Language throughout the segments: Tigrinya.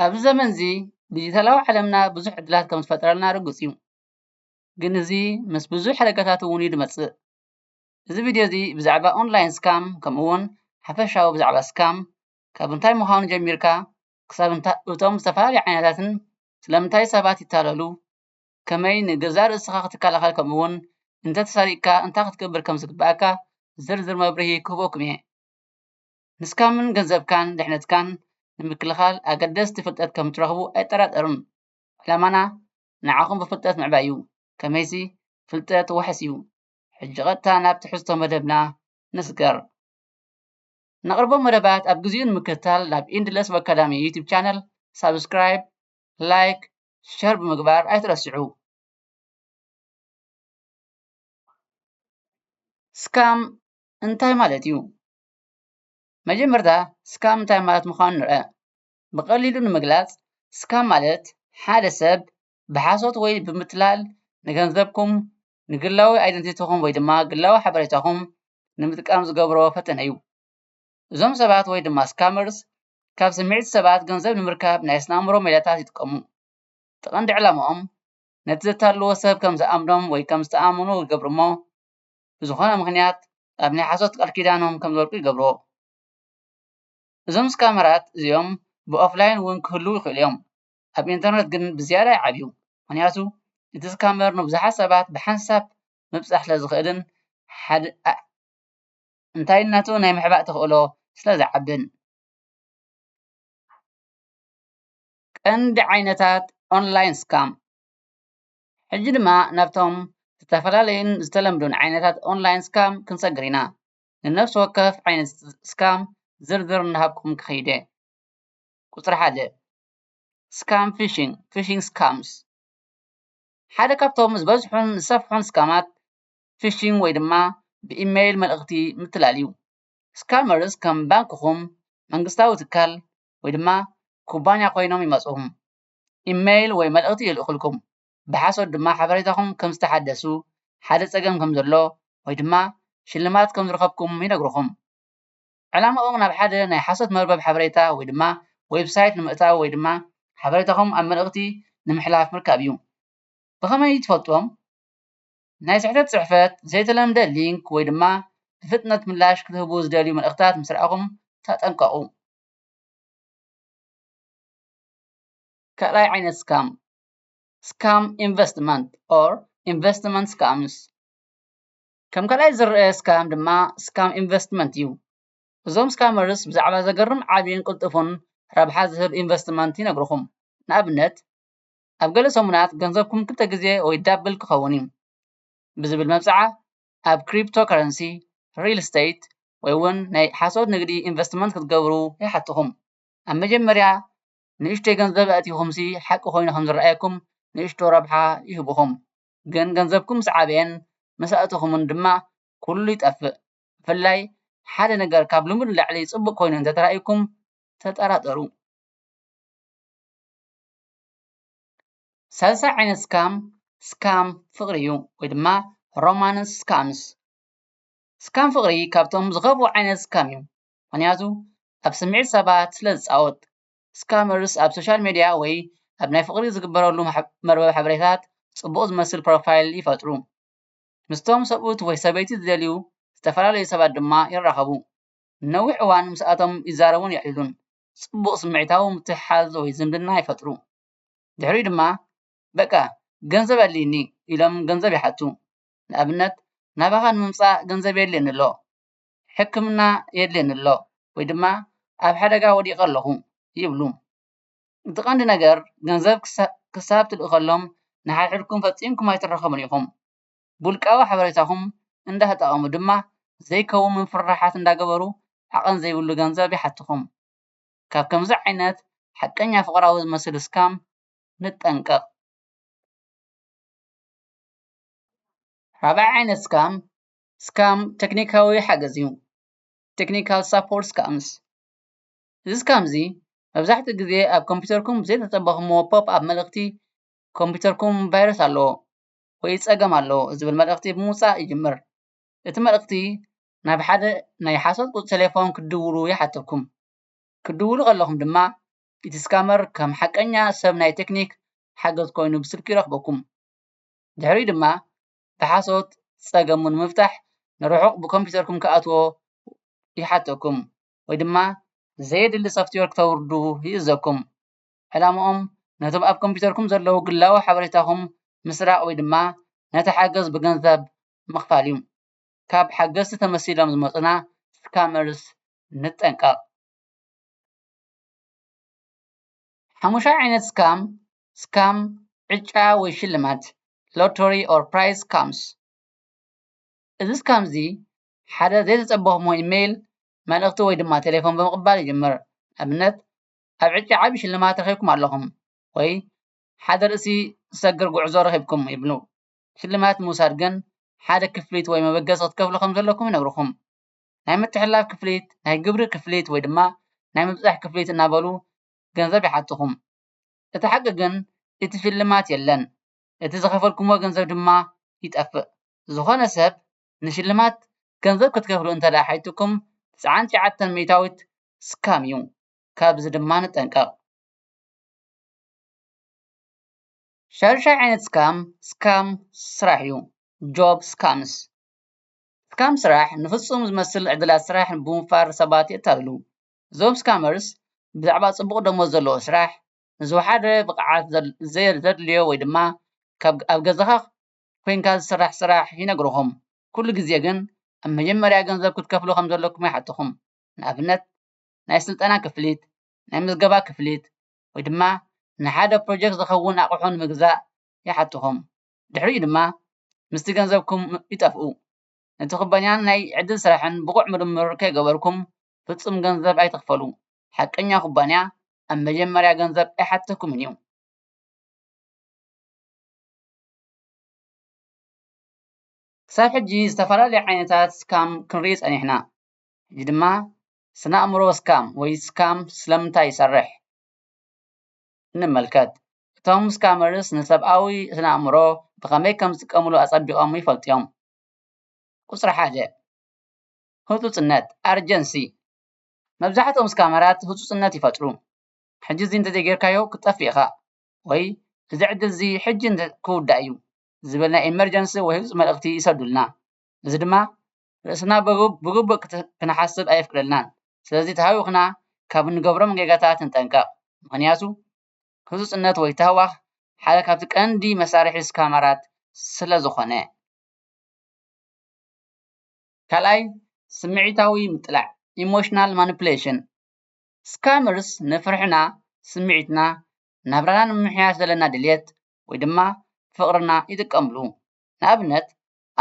ኣብዚ ዘመን እዚ ዲጂታላዊ ዓለምና ብዙሕ ዕድላት ከም ዝፈጠረልና ርግፅ እዩ። ግን እዚ ምስ ብዙሕ ሓደጋታት እውን እዩ ዝመፅእ። እዚ ቪድዮ እዚ ብዛዕባ ኦንላይን ስካም ከምኡ እውን ሓፈሻዊ ብዛዕባ ስካም ካብ እንታይ ምዃኑ ጀሚርካ ክሳብ እቶም ዝተፈላለዩ ዓይነታትን ስለምንታይ ሰባት ይታለሉ ከመይ ንገዛእ ርእስኻ ክትከላኸል ከምኡ ውን እንተተሰሪቕካ እንታይ ክትገብር ከም ዝግበኣካ ዝርዝር መብርሂ ክህበኩም እየ። ንስካምን ገንዘብካን ድሕነትካን ንምክልኻል ኣገደስቲ ፍልጠት ከም እትረኽቡ ኣይጠራጠርን። ዕላማና ንዓኹም ብፍልጠት ምዕባይ እዩ ከመይሲ ፍልጠት ዋሕስ እዩ። ሕጂ ቀጥታ ናብ ትሕዝቶ መደብና ንስገር። ነቕርቦም መደባት ኣብ ግዚኡ ንምክትታል ናብ ኢንድለስ ኣካዳሚ ዩቱብ ቻነል ሳብስክራይብ ላይክ ሸር ብምግባር ኣይትረስዑ። ስካም እንታይ ማለት እዩ? መጀመርታ ስካም እንታይ ማለት ምዃኑ ንርኣ። ብቐሊሉ ንምግላፅ ስካም ማለት ሓደ ሰብ ብሓሶት ወይ ብምትላል ንገንዘብኩም ንግላዊ ኣይደንቲቲኹም ወይ ድማ ግላዊ ሓበሬታኹም ንምጥቃም ዝገብሮ ፈተነ እዩ። እዞም ሰባት ወይ ድማ ስካመርስ ካብ ስምዒት ሰባት ገንዘብ ንምርካብ ናይ ስነ ኣእምሮ ሜላታት ይጥቀሙ። እቲ ቀንዲ ዕላምኦም ነቲ ዘታልልዎ ሰብ ከም ዝኣምኖም ወይ ከም ዝተኣማመኑ ይገብሩ እሞ ብዝኾነ ምኽንያት ኣብ ናይ ሓሶት ቃል ኪዳኖም ከም ዝወድቁ ይገብርዎ። እዞም ስካመራት እዚኦም ብኦፍላይን እውን ክህልዉ ይኽእሉ እዮም። ኣብ ኢንተርነት ግን ብዝያዳ ይዓብዩ ምኽንያቱ እቲ ስካመር ንብዙሓት ሰባት ብሓንሳብ ምብፃሕ ስለዝኽእልን እንታይነቱ ናይ ምሕባእ ተኽእሎ ስለዝዓብን። ቀንዲ ዓይነታት ኦንላይን ስካም ሕጂ ድማ ናብቶም ዝተፈላለዩን ዝተለምዱን ዓይነታት ኦንላይን ስካም ክንሰግር ኢና። ንነፍሲ ወከፍ ዓይነት ስካም ዝርዝር እናሃብኩም ክኸይድ እየ። ቁፅሪ ሓደ፣ ስካም ፊሺንግ፣ Phishing Scams፣ ሓደ ካብቶም ዝበዝሑን ዝሰፍሑን ስካማት ፊሺንግ ወይ ድማ ብኢሜል መልእኽቲ ምትላል እዩ። ስካመርስ ከም ባንክኹም፣ መንግስታዊ ትካል ወይ ድማ ኩባንያ ኮይኖም ይመጹኹም። ኢሜል ወይ መልእኽቲ ይልእኹልኩም፣ ብሓሶት ድማ ሓበሬታኹም ከም ዝተሓደሱ፣ ሓደ ጸገም ከም ዘሎ ወይ ድማ ሽልማት ከም ዝረኸብኩም ይነግሩኹም። ዕላማኦም ናብ ሓደ ናይ ሓሶት መርበብ ሓበሬታ ወይ ድማ ዌብሳይት ንምእታው ወይ ድማ ሓበሬታኹም ኣብ መልእኽቲ ንምሕላፍ ምርካብ እዩ። ብኸመይ ትፈልጥዎም? ናይ ስሕተት ጽሕፈት፣ ዘይተለምደ ሊንክ ወይ ድማ ብፍጥነት ምላሽ ክትህቡ ዝደልዩ መልእኽታት ምስ ረኣኹም ተጠንቀቑ። ካልኣይ ዓይነት ስካም፣ ስካም ኢንቨስትመንት ኦር ኢንቨስትመንት ስካምስ፣ ከም ካልኣይ ዝረኣ ስካም ድማ ስካም ኢንቨስትመንት እዩ። እዞም ስካመርስ ብዛዕባ ዘገርም ዓቢን ቅልጡፍን ረብሓ ዝህብ ኢንቨስትመንት ይነግሩኹም። ንኣብነት ኣብ ገለ ሰሙናት ገንዘብኩም ክልተ ግዜ ወይ ዳብል ክኸውን እዩ ብዝብል መብጽዓ ኣብ ክሪፕቶከረንሲ፣ ሪል ስተይት ወይ'ውን ናይ ሓሶት ንግዲ ኢንቨስትመንት ክትገብሩ ይሓትኹም። ኣብ መጀመርያ ንእሽቶይ ገንዘብ ኣእቲኹምሲ ሓቂ ኮይኑ ከም ዝረኣየኩም ንእሽቶ ረብሓ ይህቡኹም። ግን ገንዘብኩም ምስ ዓበየን ምስ ኣእተኹምን ድማ ኩሉ ይጠፍእ ብፍላይ ሓደ ነገር ካብ ልሙድ ንላዕሊ ጽቡቅ ኮይኑ እንተ ተራእዩኩም ተጠራጠሩ። ሳልሳይ ዓይነት ስካም ስካም ፍቅሪ እዩ ወይ ድማ ሮማንስ ስካምስ ስካም ፍቅሪ ካብቶም ዝኸፍኡ ዓይነት ስካም እዩ ምክንያቱ ኣብ ስምዒት ሰባት ስለ ዝጻወት ስካመርስ ኣብ ሶሻል ሚድያ ወይ ኣብ ናይ ፍቕሪ ዝግበረሉ መርበብ ሓበሬታታት ፅቡቕ ዝመስል ፕሮፋይል ይፈጥሩ። ምስቶም ሰብኡት ወይ ሰበይቲ ዝደልዩ ዝተፈላለዩ ሰባት ድማ ይራኸቡ። ንነዊሕ እዋን ምስኣቶም ይዛረቡን የዕልሉን። ፅቡቕ ስምዒታዊ ምትሕሓዝ ወይ ዝምድና ይፈጥሩ። ድሕሪኡ ድማ በቃ ገንዘብ ኣድልዩኒ ኢሎም ገንዘብ ይሓቱ። ንኣብነት ናባኻ ንምምፃእ ገንዘብ የድልየኒ ኣሎ። ሕክምና የድልየኒ ኣሎ ወይ ድማ ኣብ ሓደጋ ወዲቐ ኣለኹ ይብሉ። እቲ ቀንዲ ነገር ገንዘብ ክሳብ ትልእኸሎም ንሓድሕድኩም ፈጺምኩም ኣይትራኸቡን ኢኹም። ብውልቃዊ ሓበሬታኹም እንዳተጠቐሙ ድማ ዘይከውን ምፍርራሓት እንዳገበሩ ዓቐን ዘይብሉ ገንዘብ ይሓቱኹም። ካብ ከምዚ ዓይነት ሓቀኛ ፍቕራዊ ዝመስል ስካም ንጠንቀቕ። ራብዓይ ዓይነት ስካም ስካም ተክኒካዊ ሓገዝ እዩ። Technical Support Scams እዚ ስካም እዚ መብዛሕትኡ ግዜ ኣብ ኮምፒተርኩም ብዘይተጸበኹምዎ ፖፕ ኣፕ መልእኽቲ ኮምፒተርኩም ቫይረስ ኣለዎ ወይ ጸገም ኣለዎ ዝብል መልእኽቲ ብምውጻእ ይጅምር። እቲ መልእኽቲ ናብ ሓደ ናይ ሓሶት ቁጽሪ ተሌፎን ክትድውሉ ይሓተኩም። ክትድውሉ ከለኹም ድማ እቲ ስካመር ከም ሓቀኛ ሰብ ናይ ተክኒክ ሓገዝ ኮይኑ ብስልኪ ይረኽበኩም። ድሕሪኡ ድማ ብሓሶት ፀገሙ ንምፍታሕ ንርሑቕ ብኮምፒተርኩም ክኣትዎ ይሓተኩም ወይ ድማ ዘየድሊ ሶፍትዌር ክተውርዱ ይእዘኩም። ዕላምኦም ነቶም ኣብ ኮምፒተርኩም ዘለዉ ግላዊ ሓበሬታኹም ምስራቕ ወይ ድማ ነቲ ሓገዝ ብገንዘብ ምኽፋል እዩ። ካብ ሓገዝቲ ተመሲሎም ዝመፁና ስካመርስ ንጠንቀቕ። ሓሙሻይ ዓይነት ስካም ስካም፣ ዕጫ ወይ ሽልማት፣ Lottery or Prize Scams፣ እዚ ስካም እዚ ሓደ ዘይተጸበኹሞ ኢመይል መልእኽቲ ወይ ድማ ቴሌፎን ብምቕባል ይጅምር። ንኣብነት ኣብ ዕጫ ዓቢ ሽልማት ረኺብኩም ኣለኹም ወይ ሓደ ርእሲ ዝሰግር ጉዕዞ ረኺብኩም ይብሉ። ሽልማት ንምውሳድ ግን ሓደ ክፍሊት ወይ መበገሲ ክትከፍሉ ከም ዘለኩም ይነግሩኹም። ናይ ምትሕልላፍ ክፍሊት፣ ናይ ግብሪ ክፍሊት ወይ ድማ ናይ ምብጻሕ ክፍሊት እናበሉ ገንዘብ ይሓቱኹም። እቲ ሓቂ ግን እቲ ሽልማት የለን እቲ ዝኸፈልኩሞ ገንዘብ ድማ ይጠፍእ ዝኾነ ሰብ ንሽልማት ገንዘብ ክትከፍሉ እንተድኣ ሓቲትኩም ትስዓን ትሽዓተን ሚኢታዊት ስካም እዩ ካብዚ ድማ ንጠንቀቕ። ሻዱሻይ ዓይነት ስካም ስካም ስራሕ እዩ Job Scams ስካም ስራሕ ንፍጹም ዝመስል ዕድላት ስራሕ ብምውፋር ሰባት የታልሉ እዞም ስካመርስ ብዛዕባ ፅቡቅ ደሞዝ ዘለዎ ስራሕ ንዝወሓደ ብቅዓት ዘድልዮ ወይ ድማ ካብ ኣብ ገዛካ ኮይንካ ዝስራሕ ስራሕ ይነግርኩም ኩሉ ግዜ ግን ኣብ መጀመርያ ገንዘብ ክትከፍሉ ከም ዘለኩም ይሓቱኩም ንኣብነት ናይ ስልጠና ክፍሊት ናይ ምዝገባ ክፍሊት ወይ ድማ ንሓደ ፕሮጀክት ዝከውን ኣቅሑ ንምግዛእ ይሓቱኩም ድሕሪኡ ድማ ምስቲ ገንዘብኩም ይጠፍኡ ነቲ ኩባንያን ናይ ዕድል ስራሕን ብቁዕ ምርምር ከይገበርኩም ፍጹም ገንዘብ ኣይትኽፈሉ። ሓቀኛ ኩባንያ ኣብ መጀመርያ ገንዘብ ኣይሓተኩምን እዩ። ክሳብ ሕጂ ዝተፈላለዩ ዓይነታት ስካም ክንርኢ ጸኒሕና። ሕጂ ድማ ስነ-ኣእምሮ ስካም ወይ ስካም ስለምንታይ ይሰርሕ ንመልከት። እቶም ስካመርስ ንሰብኣዊ ስነ-ኣእምሮ ብኸመይ ከም ዝጥቀምሉ ኣጸቢቖም ይፈልጡ እዮም። ቁጽሪ ሓደ። ህጹጽነት፣ Urgency፣ መብዛሕትኦም ስካመራት ህጹጽነት ይፈጥሩ፣ ሕጂ እዚ እንተዘይጌርካዮ ክትጠፍእ ኢኻ ወይ እዚ ዕድል እዚ ሕጂ ክውዳእ እዩ ዝብል ናይ ኤመርጀንሲ ወይ ህጹጽ መልእኽቲ ይሰዱልና። እዚ ድማ ርእስና ብግቡእ ክንሓስብ ኣየፍቅደልናን። ስለዚ ተሃዊኽና ካብ እንገብሮም ጌጋታት ንጠንቀቕ፣ ምኽንያቱ ህጹጽነት ወይ ታህዋኽ ሓደ ካብቲ ቀንዲ መሳርሒ ስካመራት ስለዝኾነ። ካልኣይ ስምዒታዊ ምጥላዕ ኢሞሽናል ማኑፕሌሽን ስካመርስ ንፍርሕና ስምዒትና ናብራና ንምምሕያሽ ዘለና ድልየት ወይ ድማ ፍቅርና ይጥቀምሉ ንኣብነት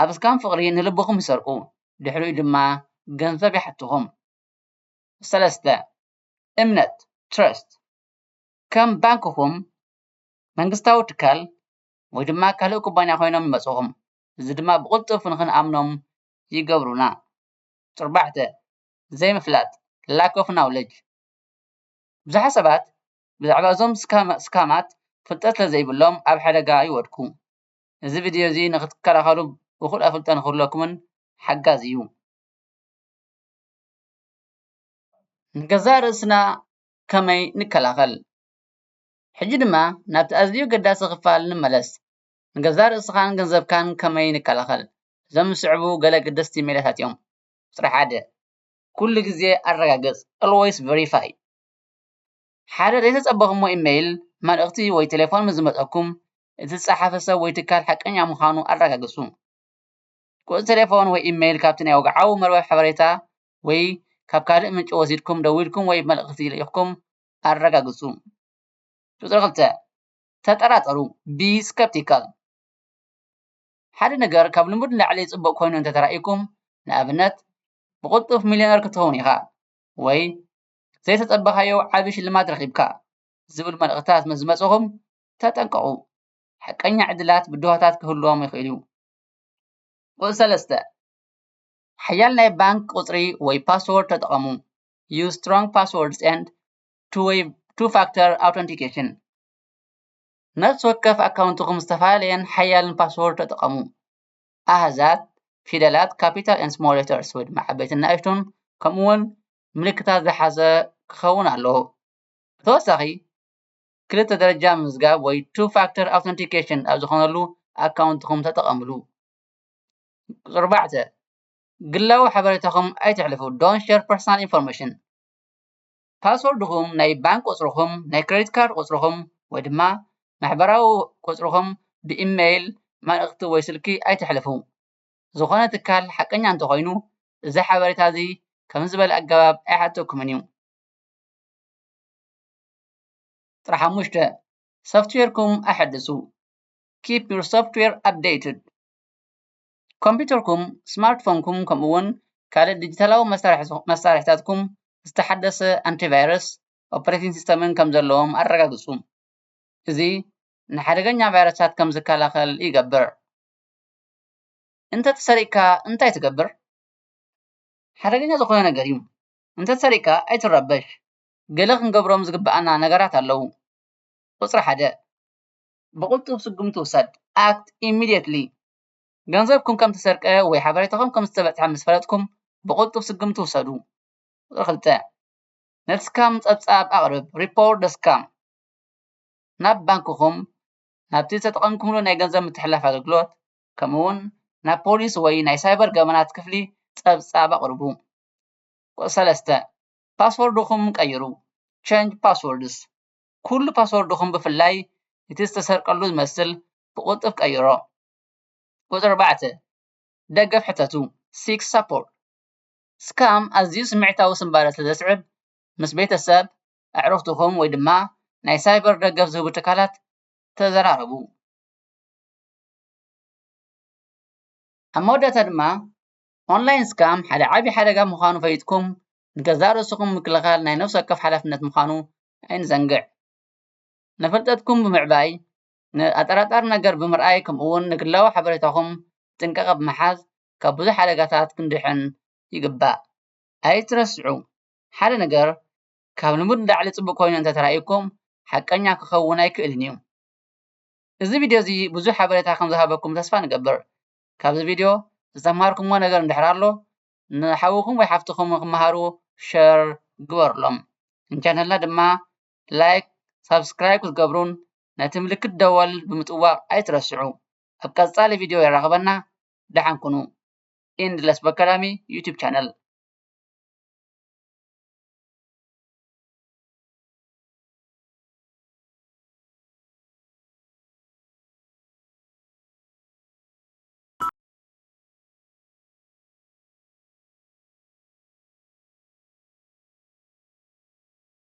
ኣብ ስካም ፍቅሪ ንልብኩም ይሰርቁ ድሕሪኡ ድማ ገንዘብ ይሓትኩም ሰለስተ እምነት ትረስት ከም ባንክኩም መንግስታዊ ትካል ወይ ድማ ካልእ ኩባንያ ኮይኖም ይመጽኩም እዚ ድማ ብቕልጡፍ ንኽንኣምኖም ይገብሩና። ጡርባዕተ፣ ዘይምፍላጥ፣ Lack of Knowledge፣ ብዙሓት ሰባት ብዛዕባ እዞም ስካማት ፍልጠት ስለዘይብሎም ኣብ ሓደጋ ይወድቁ። እዚ ቪድዮ እዚ ንኽትከላኸሉ እኹል ኣፍልጦ ንኽህልወኩምን ሓጋዚ እዩ። ንገዛእ ርእስና ከመይ ንከላኸል? ሕጂ ድማ ናብቲ ኣዝዩ ኣገዳሲ ክፋል ንመለስ። ንገዛእ ርእስኻን ገንዘብካን ከመይ ንከላኸል? እዞም ዝስዕቡ ገለ ኣገደስቲ ሜላታት እዮም። ቁጽሪ ሓደ፣ ኩሉ ግዜ ኣረጋግጽ፣ Always Verify፣ ሓደ ዘይተጸበኹሞ ኢመይል፣ መልእኽቲ ወይ ተሌፎን ምስ ዝመጸኩም፣ እቲ ዝጸሓፈ ሰብ ወይ ትካል ሓቀኛ ምዃኑ ኣረጋግጹ። ቁጽሪ ተሌፎን ወይ ኢመይል ካብቲ ናይ ወግዓዊ መርበብ ሓበሬታ ወይ ካብ ካልእ ምንጪ ወሲድኩም ደዊልኩም ወይ መልእኽቲ ልኢኽኩም ኣረጋግጹ። ቁጽሪ ክልተ፣ ተጠራጠሩ፣ be skeptical። ሓደ ነገር ካብ ልሙድ ንላዕሊ ጽቡቕ ኮይኑ እንተ ተራእዩኩም፣ ንኣብነት ብቕልጡፍ ሚልዮነር ክትኸውን ኢኻ ወይ ዘይተጸበኻዮ ዓቢ ሽልማት ረኺብካ ዝብል መልእኽትታት ምስ ዝመጽኡኹም ተጠንቀቑ። ሓቀኛ ዕድላት ብድሆታት ክህልዎም ይኽእል እዩ። ቁጽሪ ሰለስተ፣ ሓያል ናይ ባንክ ቁጽሪ ወይ ፓስዎርድ ተጠቐሙ፣ use strong passwords and ቱ-ዌይ፣ Two-Factor Authentication፣ ነፍሲ ወከፍ ኣካውንትኹም ዝተፈላለየን ሓያልን ፓስወርድ ተጠቐሙ። ኣሃዛት፣ ፊደላት፣ ካፒታል ኤንድ ስሞል ሌተርስ ወይ ድማ ዓበይትን ንኣሽቱን ከምኡ ውን ምልክታት ዝሓዘ ክኸውን ኣለዎ። ብተወሳኺ፣ ክልተ ደረጃ ምምዝጋብ ወይ Two-Factor Authentication ኣብ ዝኾነሉ ኣካውንትኹም ተጠቐምሉ። ኣርባዕተ፣ ግላዊ ሓበሬታኹም ኣይተሕልፉ፣ Don't Share Personal Information፣ ፓስዎርድኹም፣ ናይ ባንክ ቁጽርኹም፣ ናይ ክረዲት ካርድ ቁጽርኹም ወይ ድማ ማሕበራዊ ቁጽርኹም ብኢመይል መልእኽቲ ወይ ስልኪ ኣይተሕልፉ። ዝኾነ ትካል ሓቀኛ እንተኾይኑ እዚ ሓበሬታ እዚ ከምዚ ዝበለ ኣገባብ ኣይሓተኩምን እዩ። ቁጽሪ ሓሙሽተ፣ ሶፍትዌርኩም ኣሐድሱ፣ Keep your software updated። ኮምፒተርኩም፣ ስማርት ፎንኩም ከምኡ እውን ካልእ ዲጂታላዊ መሳርሕታትኩም ዝተሓደሰ ኣንቲ ቫይረስ ኦፕሬቲንግ ሲስተምን ከም ዘለዎም ኣረጋግፁ። እዚ ንሓደገኛ ቫይረሳት ከም ዝከላኸል ይገብር። እንተተሰሪቕካ እንታይ ትገብር? ሓደገኛ ዝኾነ ነገር እዩ። እንተተሰሪቕካ ኣይትረበሽ። ገለ ክንገብሮም ዝግብኣና ነገራት ኣለዉ። ቁፅሪ ሓደ፣ ብቕልጡፍ ስጉምቲ ውሰድ፣ Act Immediately፣ ገንዘብኩም ከም እተሰርቀ ወይ ሓበሬታኹም ከም ዝተበጽሐ ምስ ፈለጥኩም፣ ብቕልጡፍ ስጉምቲ ውሰዱ። ቁጽሪ ክልተ፣ ነስካም ጸብጻብ ኣቕርብ፣ Report the Scam፣ ናብ ባንክኹም፣ ናብቲ ዝተጠቐምኩምሉ ናይ ገንዘብ ምትሕልላፍ ኣገልግሎት፣ ከምኡውን ናብ ፖሊስ ወይ ናይ ሳይበር ገበናት ክፍሊ ጸብጻብ ኣቕርቡ። ቁጽሪ ሰለስተ፣ ፓስወርድኹም ቀይሩ፣ Change Passwords፣ ኩሉ ፓስወርድኹም ብፍላይ እቲ ዝተሰርቀሉ ዝመስል ብቕልጡፍ ቀይሮ። ቁጽሪ ኣርባዕተ፣ ደገፍ ሕተቱ፣ Seek Support። ስካም ኣዝዩ ስምዒታዊ ስንባደ ስለ ዘስዕብ፣ ምስ ቤተሰብ፣ ኣዕሩኽትኹም ወይ ድማ ናይ ሳይበር ደገፍ ዝህቡ ትካላት ተዘራረቡ። ኣብ መወዳእታ ድማ፣ ኦንላይን ስካም ሓደ ዓቢ ሓደጋ ምዃኑ ፈሊጥኩም ንገዛእ ርእስኹም ምክልኻል ናይ ነፍሲ ወከፍ ሓላፍነት ምዃኑ ኣይንዘንግዕ። ንፍልጠትኩም ብምዕባይ ንኣጠራጣሪ ነገር ብምርኣይ ከምኡውን ንግላዊ ሓበሬታኹም ብጥንቃቐ ብምሓዝ ካብ ብዙሕ ሓደጋታት ክንድሕን ይግባእ። ኣይትረስዑ፣ ሓደ ነገር ካብ ልሙድ ንላዕሊ ጽቡቕ ኮይኑ እንተ ተራእዩኩም ሓቀኛ ክኸውን ኣይክእልን እዩ። እዚ ቪድዮ እዚ ብዙሕ ሓበሬታ ከም ዝሃበኩም ተስፋ ንገብር። ካብዚ ቪድዮ ዝተምሃርኩምዎ ነገር እንድሕር ኣሎ ንሓውኹም ወይ ሓፍትኹም ንኽመሃሩ ሸር ግበሩሎም። ንቻነልና ድማ ላይክ ሳብስክራይብ ክትገብሩን ነቲ ምልክት ደወል ብምጥዋቅ ኣይትረስዑ ኣብ ቀጻሊ ቪድዮ የራክበና ደሓን ኩኑ endless academy youtube channel